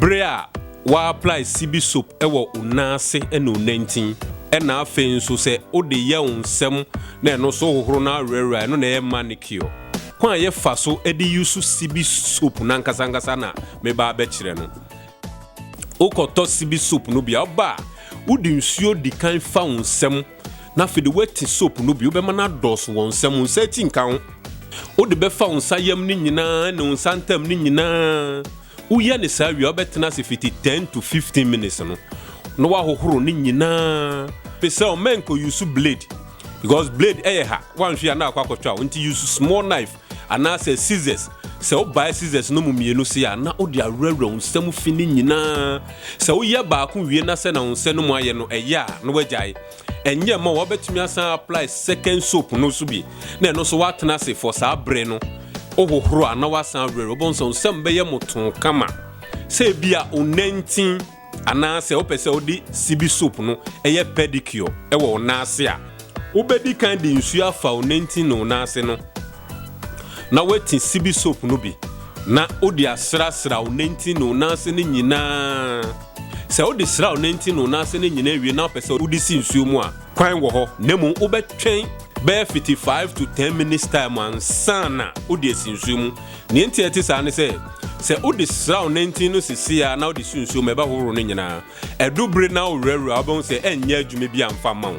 Bere a wa apply sibi soap wɔ wo nan ase ne wo nantin na afei nso sɛ wo de yɛ wo nsam na ɛno nso hohoro na awerɛwerɛ a ɛno na ɛyɛ manicure. Kwan a yɛ fa so de use sibi soap no ankasa ankasa na me ba abɛkyerɛ no. Wo kɔ tɔ sibi soap no bi a wo ba a wo de nsuo di kan fa wo nsam na afei de wo ati soap no bi wo bɛma no adɔɔso wɔ nsam wo nsa ati nka ho. Wo de bɛfa wo nsa yam no nyinaa ne wo nsa ntam no nyinaa. Woyɛ no saa wie a, wobɛtena ase fiti ten to fifteen minutes no na woahohoro ne nyinaa. Pe sɛ o, mɛn kɔ use blade because blade ɛyɛ ha, woanhwɛ yi a na akɔ akɔtwa wo nti use small knife anaa sɛ scissors. Sɛ wo bae scissors no mu mmienu sei a na wode awurawura wo nsa mu fi ne nyinaa. Sɛ woyɛ baako wie na sɛnea wo nsa no mu ayɛ no ɛyɛ a na woagyae. Ɛnyɛ mma wabɛtumi asan apply second soap no nso bi na ɛno nso watena ase for saa bere no, wohohoro a na wasan awerɛwerɛ, wobɛhu sɛ wo nsam bɛyɛ motoo kama. Sɛ ebia wonantin anaasɛ wopɛ sɛ wode sibi soap no yɛ pedicure wɔ wo nan ase a, wobɛdi kan de nsuo afa wo nantin ne wo nan ase no. na wati sibi soap no bi, na ode asrasra wo nantin ne wo nan ase no nyinaa. Sɛ wode sra wo nantin ne wo nan ase no nyinaa awie na wopɛ sɛ wode si nsuo mu a, kwan wɔ hɔ, na mmom wobɛtwɛn bɛyɛ fiti five to ten minutes time ansa na wode asi nsuo mu. Nea enti a ɛte saa ne sɛ, sɛ wode sra wo nantin no sesei ara na wode si nsuo mu a, ɛbɛhohoro no nyinaa. Ɛdu bere na wowerɛwerɛ a, wobɛhu sɛ ɛrenyɛ adwuma bi amfa mma wo.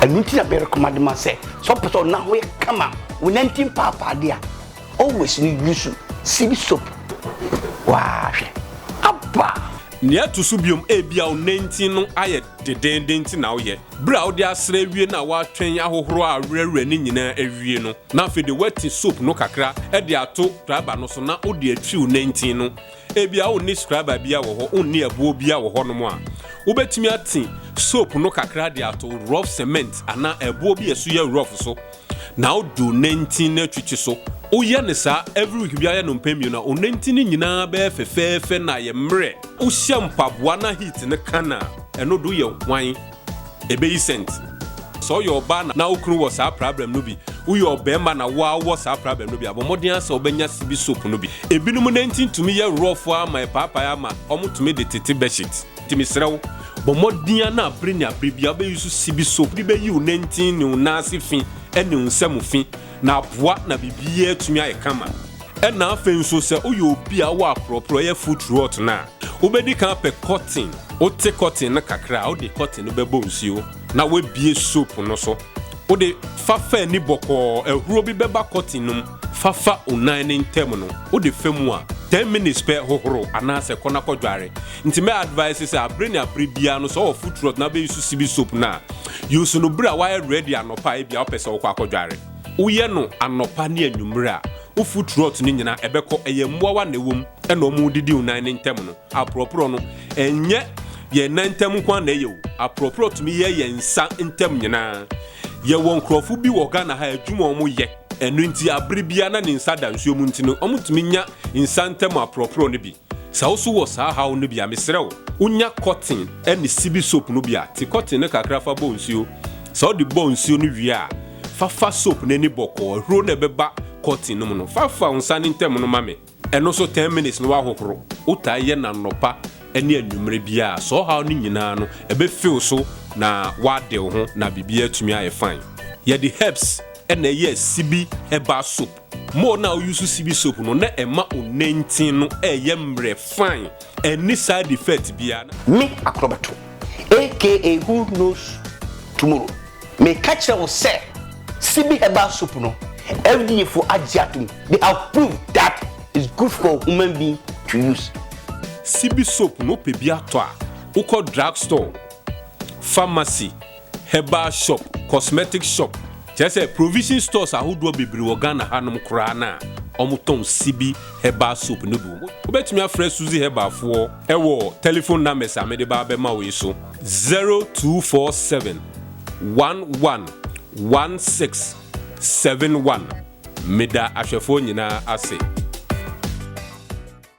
ɛno nti na bɛrekoma de ma sɛ sɛ ɔpɛ sɛ ɔna ho yɛ kama wonanti mpaapaadeɛ a always no yusu sibi soap waahwɛ aba Nea ɛto so biom, ebia wo nantin no ayɛ dedeenden nti na woyɛ. Bere a wode asra awie na woatwɛn ahohoro a awerɛwerɛ no nyinaa awie no, na afei de woati soap no kakra de ato driver no so na wode atwi wo nantin no. Ebia wonni skraba biara wɔ hɔ, wonni ɛboɔ biara wɔ hɔnom a wobɛtumi ate soap no kakra de ato rough cement anaa ɛboɔ bi a ɛso yɛ rough so na wode onantin no atwitwi so. Woyɛ no saa every week biara, yɛ no mpɛn mmienu a, onantin no nyinaa bɛyɛ fɛfɛɛfɛ na ayɛ mmerɛ. Wohyɛ mpaboa na heat no ka no a, ɛno de woyɛ hwan? Ebeyi sɛnt. Sɛ ɔyɛ ɔbaa na na wo kunu wɔ saa prabrɛm no bi, woyɛ ɔbarima na wo ara wowɔ saa prabrɛm no bi a, bɔ mmɔden ara sɛ wobɛnya sibi soap no bi. Ebinom nantin tumi yɛ rɔɔfo ara ma ɛpaapae ara ma wɔtumi de tete bɛhyit. Nti mesrɛ wo, bɔ mmɔden ara na bere ne abere biara wobɛyusu sibi soap de bɛyi wo nantin ne wo nan ase fi ne wo nsa mu fi. na aboa na biribiara atumi ayɛ kama. Ɛnna afei nso sɛ woyɛ obi a wowɔ aporɔporɔeɛ foot rot no a, wobɛdi kan apɛ kɔten. Wote kɔten no kakra a, wode kɔten no bɛbɔ nsuo na woabue soap no so. Wode fa fa ani bɔkɔɔ, ahuro bi bɛba kɔten no mu. Fa fa wo nan no ntam no, wode fa mu a, ten minutes pɛ hohoro anaasɛ kɔ na kɔdware. Ntsi mɛ advice sɛ aber nye aber biara no sɛ ɔwɔ foot rot na bɛ use sibi soap no a, use no ber a wɔayɛ ready anɔpa a ebia ɔpɛ sɛ ɔkɔ akɔdware. Woyɛ no anɔpa ne anwummere a, wo foot rot no nyina ɛbɛkɔ. Ɛyɛ mboawa na ɛwɔ mu na ɔmo didi wo nan ne ntam no. Aporɔporɔ no, ɛnnyɛ yɛn nan ntam nkoaa na ɛyɛ o, aporɔporɔ tumi yɛ yɛn nsa ntam nyinaa. Yɛwɔ nkorɔfo bi wɔ Ghana ha a adwuma a ɔmo yɛ, ɛno ntsi aber biara na ne nsa da nsuo mu ntsi no, ɔmo tumi nya nsa ntam aporɔporɔ no bi. Sɛ wo so wɔ saa haw no bi a, mesrɛ wo, wonya kɔten ne sibi soap no bi a, te kɔten no kakra fa bɔ nsuo. Sɛ wode bɔ nsuo no wie a, fa fa soap no ani bɔkɔɔ. Ahuro no a ɛbɛba kɔten no mu no, fa fa wo nsa no ntam no ma me. Ɛno nso, ten minutes na woahohoro. Wotaa yɛ no anɔpa ne anwummerɛ biara a, saa ɔhaw no nyinaa no, ɛbɛfi wo so na woade wo ho na biribiara atumi ayɛ fine. Yɛde herbs na ɛyɛɛ sibi herbal soap. Mo na wo use sibi soap no na ɛma wo nantsin no ɛyɛ mbrɛ fine ɛnni side effect biaa na. Me Akorɔbɛto aka who knows tomorrow meka kyerɛ wo sɛ sibi herbal soap no FDA foɔ agye atom they have proved that it's good for human being to use. Sibi soap no wopɛ bi atɔ a wokɔ drug store, pharmacy, Herbal shop, cosmetic shop, kyerɛ sɛ provision stores ahodoɔ bebree wɔ Ghana hanom koraa no a wɔtɔn Sibi herbal soap no bi wɔ hɔ. Wobɛtumi afrɛ Suzy Herbal foɔ wɔ telephone numbers a mede ba bɛma wo yi so, 0247 11 1671. Meda ahwɛfoɔ nyinaa ase.